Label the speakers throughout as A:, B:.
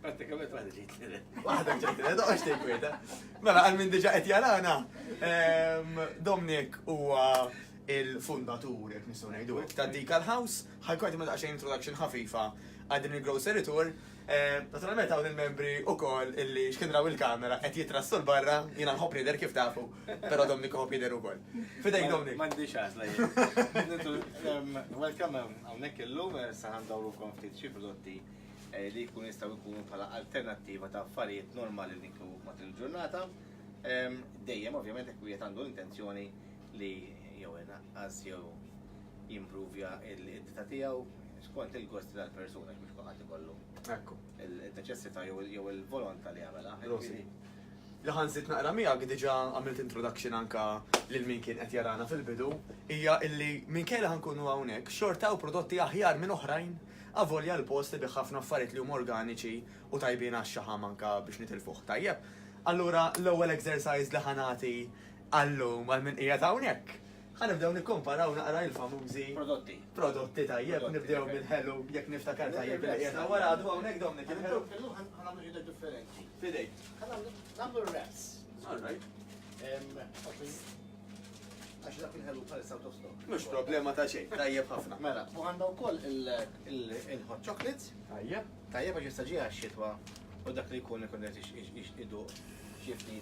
A: Pratikament għad ġejt li Waħda ġejt
B: li doqx tejkwita. Mela għal minn diġa qed jarana. Ehm, Domnik huwa il-fundatur, jek nistgħu ngħidu hekk, ta' Decal House, ħajkun ma daqsxejn introduction ħafifa għal din il-grocery tour. Ehm, naturalment hawn il-membri ukoll illi x'kinraw il-kamera qed jitrassu l-barra, jiena nħobb jidher kif tafu, però Domnik ħobb jidher ukoll. Fidejk Domnik. M'għandix għażla
A: jien. Ehm, welcome hawnhekk illum eh, sa ħandawrukom ftit xi prodotti li jkunu jistgħu jkunu bħala alternattiva ta' affarijiet normali li niklu matul il-ġurnata. Dejjem ovvjament jekk wieħed għandu l-intenzjoni li jew inaqqas jew jimprovja l-iddita tiegħu skont il-gosti tal-persuna biex kulħadd ikollu. Ekku.
B: Il-neċessità
A: jew il-volontà li jagħmilha. Rosi. Li
B: ħansit naqra miegħek diġà għamilt introduction anka lil min kien qed jarana fil-bidu hija illi minkejja ħankunu hawnhekk xorta u prodotti aħjar minn oħrajn Avolja l-post ibigħ ħafna affarijiet li huma organiċi u tajbin għax-xaħam anke biex nitilfuh tajjeb. Allura l-ewwel exercise li ħa nagħti għal-lum għal min qiegħed hawnhekk, ħa nibdew nikkumparaw naqra il-famużi Prodotti. prodotti tajjeb, nibdew mill-ħelu jekk niftakar tajjeb li qiegħed hawn wara għadu hawnhekk Dominic il-ħelu. Illum ħa nagħmlu xi ħaġa
A: differenti. F'idejk. Ħa nagħmlu
B: nagħmlu
A: r-wraps. All right.
B: Em, ok.
A: Għax dak il-ħelu bħalissa out of stock. Mux problema ta' xejn,
B: tajjeb ħafna. Mela, u għandha wkoll
A: il-hot chocolates. Tajjeb. Tajjeb
B: għax jistaġi
A: għax-xitwa u dak li jkun ikun qed idu xifti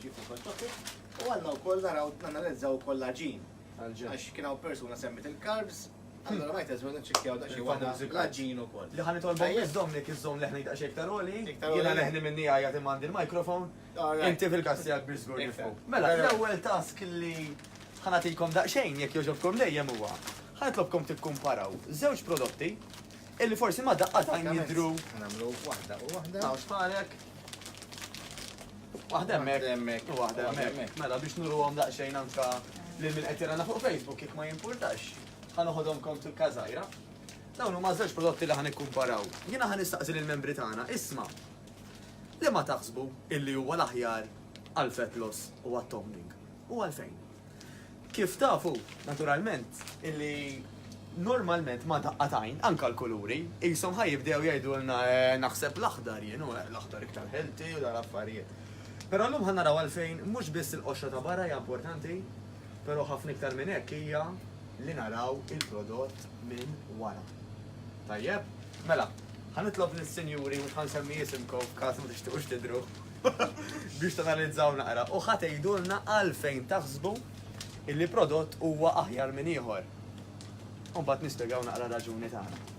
A: xifti hot chocolates. U għandna wkoll naraw nanalizzaw ukoll l-aġin. Għax kien hawn persuna semmit il-carbs, Allora ma jtezmu nċekjaw da xie għana l-ġin u kol. Li ħani tolbu jizdom
B: li kizzom leħni da xie ktar oli. Jena leħni minni għajja timandi l-mikrofon. Inti fil-każ tiegħek biex żgur nifhmu. Mela, l-ewwel task li ħanatikom daqsxejn jekk jogħġobkom dejjem huwa. Ħanitlobkom tikkumparaw żewġ prodotti illi forsi ma daqqa ta' jidru. Nagħmlu
A: waħda u waħda. Taw xparek.
B: Waħda hemmhekk. Waħda hemmhekk. Mela biex nuruhom daqsxejn anka lil min qed jirana fuq Facebook jekk ma jimpurtax. Ħanoħodhom kont fil-każajra. Dawn huma żewġ prodotti li ħanikkumparaw. Jiena ħanistaqsi lill-membri tagħna, isma' Liema taħsbu illi huwa l-aħjar għall-fat loss u għat-toning, u għalfejn? Kif tafu, naturalment, illi normalment ma' daqqa t'għajn, anke l-kuluri, qishom ħa jibdew jgħidulna eh, naħseb l-aħdar jien, u eh, l-aħdar iktar healthy u dal-affarijiet. Però llum ħa naraw għalfejn mhux biss il-qoxra ta' barra hija importanti, però ħafna iktar minn hekk hija li naraw il-prodott minn wara. Tajjeb? Mela, Ħa nitlob lis-sinjuri, mhux ħa nsemmi isimkom f'każ ma tixtiequx tidhru, biex tanalizzaw naqra u ħa tgħidulna għalfejn taħsbu illi prodott huwa aħjar minn ieħor. U mbagħad nispjegaw naqra raġuni tagħna.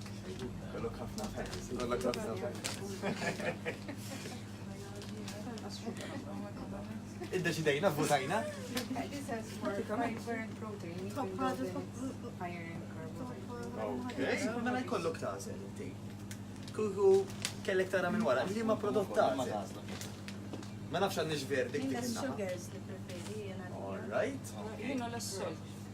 B: Id-deċidejna, votajna.
C: Mela jkollok
B: tażel inti. Kuku kellek tara minn wara, li ma prodott tażel. Ma nafx għandix verdik dik. All
D: right.
B: Jina l-sol.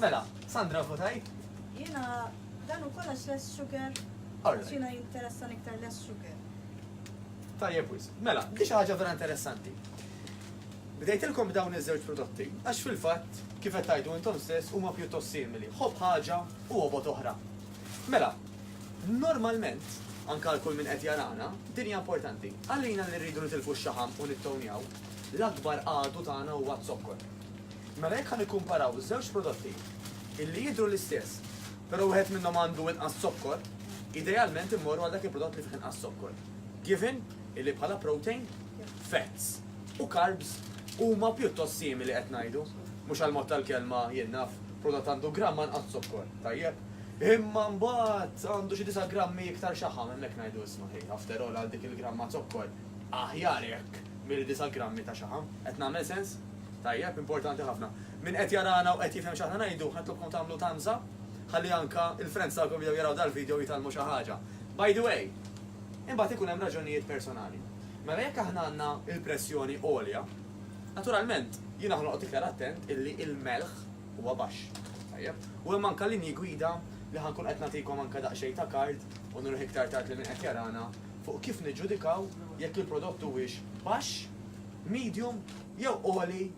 B: Mela, Sandra votajt? Jena,
D: dan u kolla less sugar. Xina
B: jinteressan
D: iktar less sugar.
B: Tajjeb wis. Mela, di ħaġa vera interessanti. Bdejtilkom dawn iż-żewġ prodotti, għax fil-fatt kif qed tgħidu intom stess huma pjuttost simili. Ħobb ħaġa u obot oħra. Mela, normalment, anke għal kull min qed jarana, din hija importanti. Għalina li rridu nitilfu x-xaħam u nittownjaw, l-akbar għadu tagħna huwa z-zokkor. Mela jekk ħa nikkumparaw żewġ prodotti illi jidhru l-istess, però wieħed minnhom għandu inqas zokkor, idealment immorru għal dak il-prodott li fih inqas zokkor. Given illi bħala protein, fats u carbs huma pjuttost simili qed ngħidu, mhux għall-mod tal-kelma jien naf, prodott għandu gramm anqas zokkor, tajjeb? Imma mbagħad għandu xi disa' grammi iktar xaħam, hemmhekk ngħidu isma' ħi, after all għal dik il-gramma zokkor, aħjar hekk milli disa' grammi ta' xaħam. Qed nagħmel sens? Tajjeb, importanti ħafna. Min qed jarana u qed jifhem x'aħna ngħidu, ħa nitlobkom tagħmlu thumbs up, ħalli anke l-friends tagħkom bdew jaraw dal-video u jitgħallmu xi ħaġa. By the way, imbagħad ikun hemm raġunijiet personali. Mela jekk aħna għandna l-pressjoni għolja, naturalment jiena ħa noqgħod iktar attent illi l-melħ huwa baxx. Tajjeb. U hemm anke linji gwida li ħa nkun qed nagħtikom anke daqsxejn ta' card, u nurih iktar tard lil min qed jarana, fuq kif niġġudikaw jekk il-prodott huwiex baxx, medium jew għoli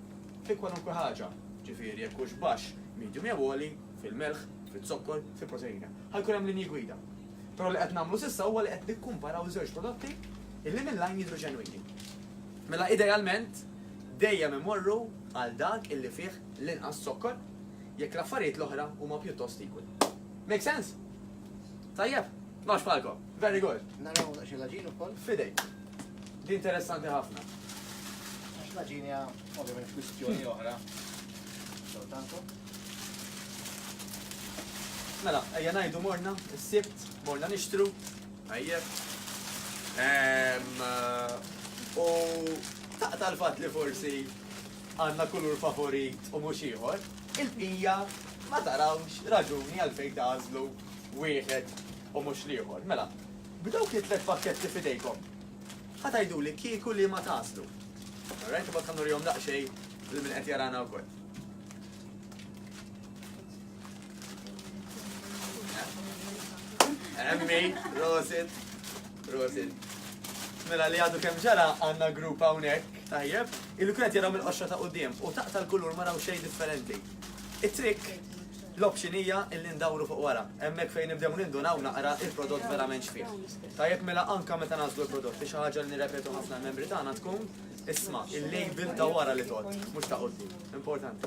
B: fi kwalunkwe ħaġa. Ġifieri jekk hux baxx, medium jew għoli fil-melħ, fiz-zokkor, fil-proteina. Ħa jkun hemm linji gwida. Però li qed nagħmlu s'issa huwa li qed nikkumparaw żewġ prodotti illi minn lajn jidhru ġenwini. Mela idealment dejjem imorru għal dak illi fih l-inqas zokkor, jekk l-affarijiet l-oħra huma pjuttost equal. Make sense? Tajjeb? Nafx bħalkom. Very good. Naraw daqsxejn l-aġin
A: ukoll. Fidej.
B: Di interessanti ħafna. Għax
A: l-aġin hija ovvjament kwistjoni oħra. Soltantu.
B: Mela, ejja ngħidu morna, s-sibt, morna nixtru. Tajjeb. Ehm, eh, u taqta l-fat li forsi għandna kulur favorit u mhux ieħor, il-bqija ma tarawx raġuni għalfejn tagħżlu wieħed u mhux l-ieħor. Mela, b'dawk it-tliet pakketti f'idejkom, ħa tgħiduli kieku liema tagħżlu. Alright, imbagħad ħa nurihom daqsxejn lil min qed jarana wkoll. Emmi, Rosit, Rosit. Mela li għadu kem ġara għanna grupp hawnhekk tajjeb, il kret jaraw mill-qoxra ta' qudiem u taqta' l-kulur ma raw xejn differenti. It-trick l-option hija illi ndawru fuq wara. Hemmhekk fejn nibdew nindunaw naqra il-prodott verament xfih. Tajjeb mela anka meta nażlu l-prodott li xi ħaġa li nirrepetu ħafna l-membri tagħna tkun isma' il-label ta' wara li tot, mhux ta' qudiem. Importanti.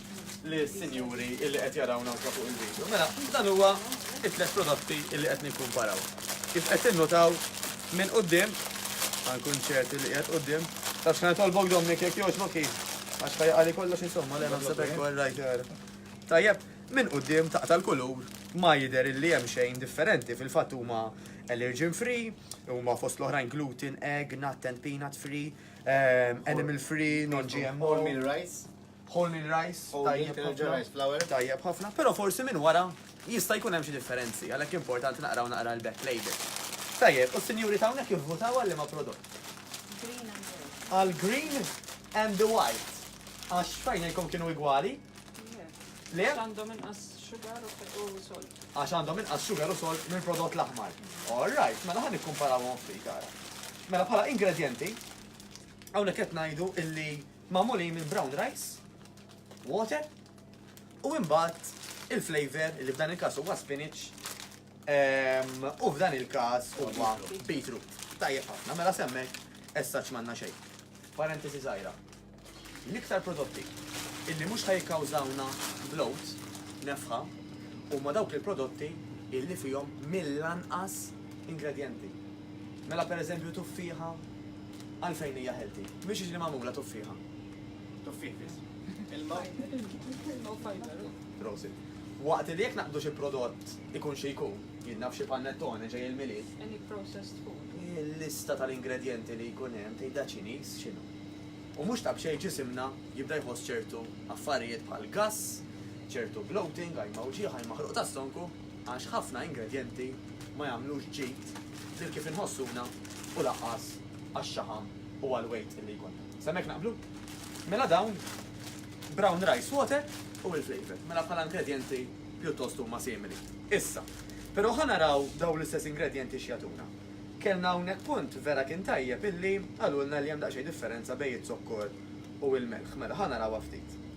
B: li sinjuri illi qed jaraw nawka fuq il-video. Mela, dan huwa it-tlet prodotti illi qed nikkumparaw. Kif qed tinnutaw minn qudiem, għankun ċerti li qed qudiem, taf xħan tolbok domni kek joċ boki, għax ħajja għali kollox insomma li għanam sebek għor rajt għor. Tajjeb, minn qudiem taqta l-kulur ma jider illi hemm xejn differenti fil-fatt huma allergen free, huma fost l-oħrajn gluten, egg, nut and peanut free, ehm, animal free, non-GMO. All meal rice.
A: Wholemeal rice,
B: tajjeb ħafna.
A: Tajjeb ħafna, però
B: forsi minn wara jista' jkun hemm xi differenzi, għalhekk importanti naqraw naqra l-back label. Tajjeb, u s-sinjuri ta' hawnhekk ivvutaw għal liema prodott? Green and white. Għal green and the white. Għax f'għajnejkom kienu igwali? Le. Le? Għax għandhom inqas
E: sugar u salt. Għax għandhom inqas sugar
B: u salt minn prodott l-aħmar. All right, mela ħan nikkumparawhom ftit ara. Mela bħala ingredjenti, hawnhekk qed ngħidu illi Magħmulin minn brown rice, water u imbagħad il-flavour li f'dan il-każ huwa spinach u f'dan il-każ huwa beetroot. Tajjeb ħafna, mela s'hemmhekk as such m'għandna xejn. Parentesi żgħira. L-iktar prodotti illi mhux ħa jikkawżawna bloat, nefħa, huma dawk il-prodotti illi fihom mill-anqas ingredjenti. Mela pereżempju tuffieħa, Għalfejn hija healthy? Mhix jiġri magħmula tuffieħa. Tuffieħ biss.
A: Ilma u fiber.
B: Prosit. Waqt li jekk naqbdu xi prodott ikun xi jkun, jidnab xi panettone ġej il-Milied. Any processed
E: food. Il-lista
B: tal-ingredjenti li jkun hemm tgħidha Ċiniż x'inhu. U mhux ta' b'xejn ġisimna jibda jħoss ċertu affarijiet bħal gass, ċertu bloating, għajma wġigħ, għajma ħruq tas-sonku. Għax ħafna ingredjenti ma jagħmlux ġid lil kif inħossuna u lanqas għax-xaħam u għall-weight illi jkollna. Sa hemmhekk naqblu? Mela dawn brown rice water u l-flavour. Mela bħala ingredjenti pjuttost huma simili. Issa, però ħa naraw dawn l-istess ingredjenti x'jagħtuna. Kellna hawnhekk punt vera kien tajjeb illi qalulna li hemm daqsxejn differenza bejn iz-zokkor u l-melħ. Mela ħa narawha ftit.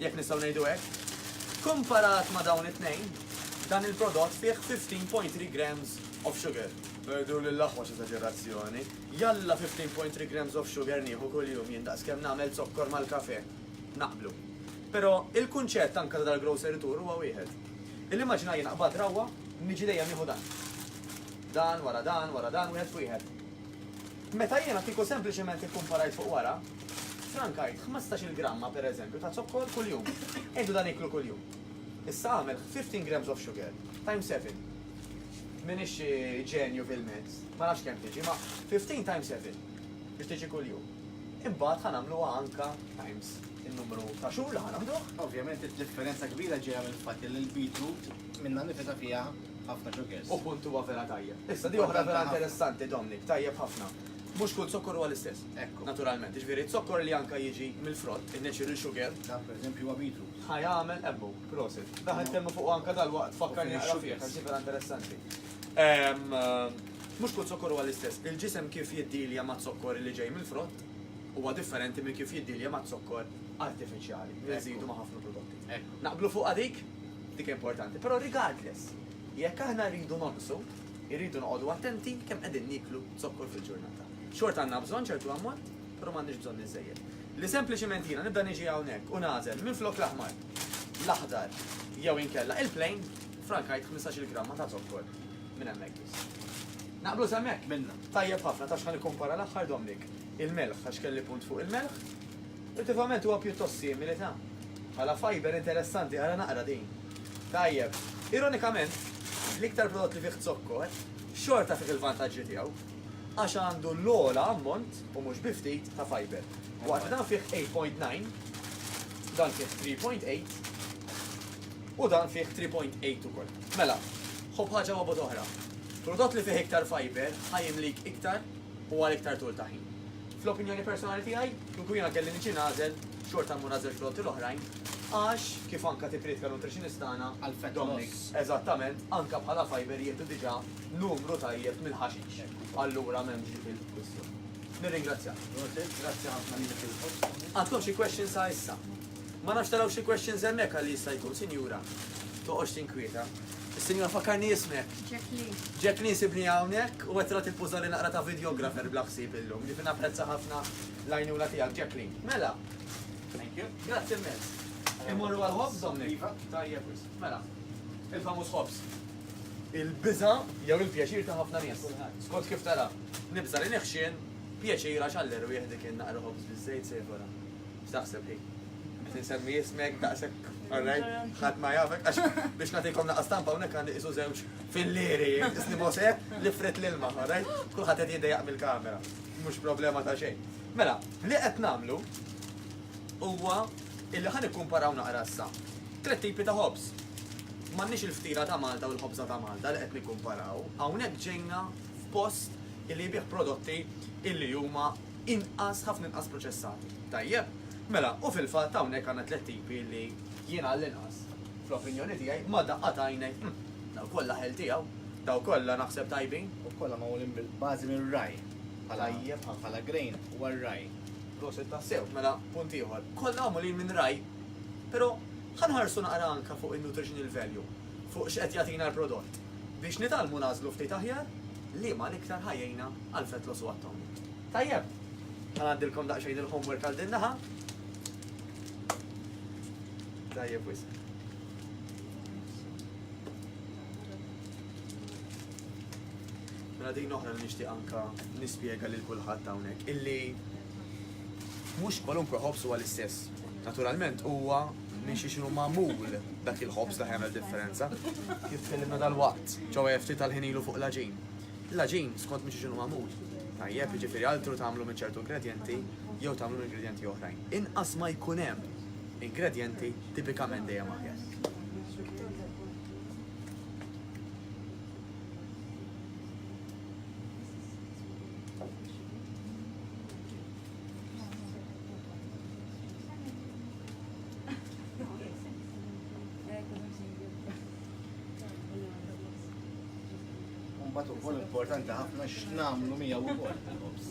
B: jekk nistgħu ngħidu hekk. Kkumparat ma' dawn it-tnejn, dan il-prodott fih 15.3 grams of sugar. Perdu lil aħwa x'eżaġerazzjoni. Jalla 15.3 grams of sugar nieħu kuljum jien daqs kemm nagħmel zokkor mal-kafè. Naqblu. Però il-kunċett anke ta' dal-grocery tour huwa wieħed. Il-immaġina jiena qbadt rawwa, niġi dejjem nieħu dan. Dan wara dan wara dan wieħed f'wieħed. Meta jiena kieku sempliċement ikkumparajt fuq wara, ffrankajt ħmistax-il gramma, per eżempju, ta' zokkor kuljum. Għidu dan iklu kuljum. Issa agħmel 15 grams of sugar times seven. M'iniex xi ġenju fil-maths, ma nafx kemm tiġi, imma 15 times seven biex tiġi kuljum. Imbagħad ħa nagħmluha anke times in-numru ta' xhur li ħa naħduh. Ovvjament id-differenza
A: kbira ġejja mill-fatt li l-beetroot minnha nnifisha fiha Ħafna xokers. U punt huwa vera tajjeb.
B: Issa di oħra vera interessanti Dominic, tajjeb ħafna. Mhux kull zokkor huwa l-istess. Ekku. Naturalment, jiġifieri
A: zokkor
B: li anke jiġi mill-frott, in-natural sugar. Dan pereżempju huwa
A: beetroot. Ħa jagħmel ebbu,
B: prosit. Dak qed nitkellmu fuqu anke dalwaqt fakkarni naqra fih għax di vera interessanti. Mhux kull zokkor huwa l-istess. Il-ġisem kif jiddilja maz-zokkor li ġej mill-frott huwa differenti minn kif jiddilja maz-zokkor artifiċjali li nżidu ma' ħafna prodotti. Ekku. Naqblu fuqha
A: dik?
B: Dik importanti. Però regardless, jekk aħna rridu nonqsu, irridu noqogħdu attenti kemm qegħdin nieklu zokkor fil-ġurnata. Xorta għandna bżonn ċertu ammont, però m'għandniex bżonn iżżejjed. Li sempliċiment jiena nibda niġi hawnhekk u nagħżel minflok l-aħmar, l-aħdar jew inkella il-plain, frankajt ħmistax-il gramma ta' zokkor minn hemmhekk biss. Naqblu s'hemmhekk? Minna. Tajjeb ħafna,
A: taf x'ħa
B: nikkumpara l-aħħar, Domnic? Il-melħ, għax kelli punt fuq il-melħ. Effettivament huwa pjuttost simili, ta. Bħala fiber interessanti, ara naqra din. Tajjeb. Ironikament, l-iktar prodott li fih zokkor, xorta fih il-vantaġġi tiegħu, għax għandu l-ogħla ammont, u mhux bi ftit, ta' fiber. Waqt li dan fih 8.9, dan fih 3.8, u dan fih 3.8 ukoll. Mela, ħu b'ħaġa maqbud oħra. Prodott li fih iktar fiber ħa jimlik iktar u għal iktar tul ta' ħin. Fl-opinjoni personali tiegħi, kieku jiena kelli niġi nagħżel, xorta mmur għaż-żewġ prodotti l-oħrajn għax, kif anke tikkritika l-nutritionist tagħna, Dominic,
A: eżattament, anke
B: bħala fibre jieħdu diġà numru tajjeb mill-ħaxix. Allura m'hemmx dik il-kwistjoni. Nirringrazzjak. Grazzi ħafna lilek ukoll. Għandkom xi questions sa issa? Ma nafx taraw xi questions hemmhekk għalli jista' jkun, Sinjura. Toqgħodx tinkwieta. Sinjura fakkarni ismek. Jacqueline. Jacqueline
C: sibni
B: hawnhekk u qed tagħti puża li naqra ta' videographer bla ħsieb illum. Ġifi napprezza ħafna l-għajnuna tiegħek Jacqueline. Mela. Thank you.
A: Grazzi immens.
B: Immorru għal ħobż domni. Iva, tajjeb wis. Mela. Il-famuż ħobż. Il-biża jew il-pjaċir ta' ħafna nies. Skont kif tara, nibża li neħxien pjaċira x'għall-erwieħ dik naqra ħobż biż-żejt sejħora. X'taħseb hi? Qed insemmi ismek daqshekk orrejn ħadd ma jafek għax biex nagħtikom naqas stampa hawnhekk għandi qisu żewġ fil-lieri isni Mose li frit l-ilma, orrejn? Kulħadd qed jidejjaq mill-kamera. Mhux problema ta' xejn. Mela, li qed nagħmlu huwa illi ħan ikkumparaw naqra issa. Tliet tipi ta' ħobż. M'għandniex il-ftira ta' Malta u l-ħobża ta' Malta li qed nikkumparaw. Hawnhekk ġejna f'post illi jbih prodotti illi huma inqas, ħafna inqas proċessati. Tajjeb, mela u fil-fatt hawnhekk għandna tliet tipi li jien għall-inqas fl-opinjoni tiegħi ma' daqqa ta' għajnejk, hm, daw kollha ħel tiegħu, daw kollha naħseb tajbin. U kollha magħmulin
A: bil-bażi mir-ragħaj bħala
B: bħala grain
A: huwa r-ragħaj. Prosit tassew,
B: mela punt ieħor. Kollha magħmulin minn ragħaj, però ħa nħarsu naqra anke fuq in-nutritional value, fuq x'qed jagħtina l-prodott biex nitgħallmu nagħżlu ftit aħjar liema l-iktar ħa jgħinna għal Fetros u għat-Tawni. Tajjeb, ħa ngħaddilkom daqsxejn il-homework għal din naħa. Tajjeb wis. Mela din oħra li nixtieq anka nispjega lil kulħadd hawnhekk illi mhux kwalunkwe ħobs huwa l-istess. Naturalment huwa minn xi xinu magħmul dak il-ħobs ta' ħemel differenza. Kif kellimna dal-waqt, ġewwa ftit tal-ħinilu fuq l-aġin. L-għaġin, skont minn xiex inhu magħmul, tajjeb, jiġifieri altru tagħmlu minn ċertu ingredjenti jew tagħmlu minn ingredjenti oħrajn. Inqas ma jkun hemm ingredjenti tipikament dejjem aħjar.
A: Mbagħad ukoll importanti ħafna x'nagħmlu miegħu wkoll il-ħobż.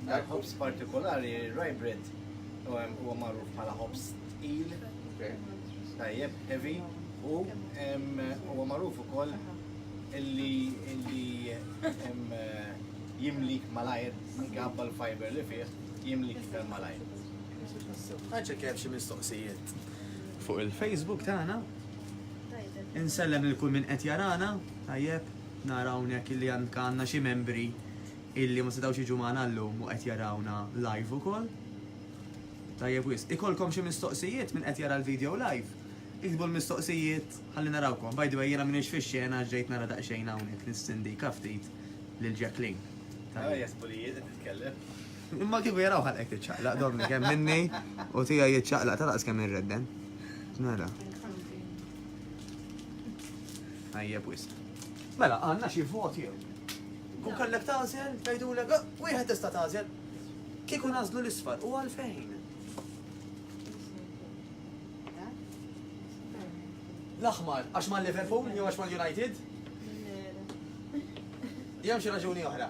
A: Dal-ħobż partikolari, rye bread, huwa magħruf bħala ħobż tqil, tajjeb, heavy, u huwa magħruf ukoll illi illi jimlik malajr, anke għabba l-fiber li fih, jimlik iktar malajr. Għanċa
B: kif xie mistoqsijiet. fuq il-Facebook tagħna. Insellem lil kull min qed jarana, tajjeb, nara hawnhekk illi għandna xi membri illi ma setgħux jiġu magħna llum u qed jarawna live ukoll. Tajjeb wis, ikolkom xi mistoqsijiet minn qed jara l-video live. Iktbu l-mistoqsijiet ħalli narawkom. By the way, jiena minix fix-xena ġejt nara daqsxejn hawnhekk nistindika ftit lil Jacqueline. Ah, jasbu li
A: jiena titkellem. Imma kieku
B: jaraw ħalqek tiċċaqlaq domni kemm minni u tiegħi jiċċaqlaq ta' daqs kemm irredden. Mela. Ħajjeb wisq. Mela, għandna xi vot jew. Kun kellek tagħżel, tgħidulek, "Ah, wieħed tista' tagħżel. Kieku nażlu l-isfar u għalfejn. L-aħmar, għax ma' Liverpool jew għax ma' United? Jew xi raġuni oħra.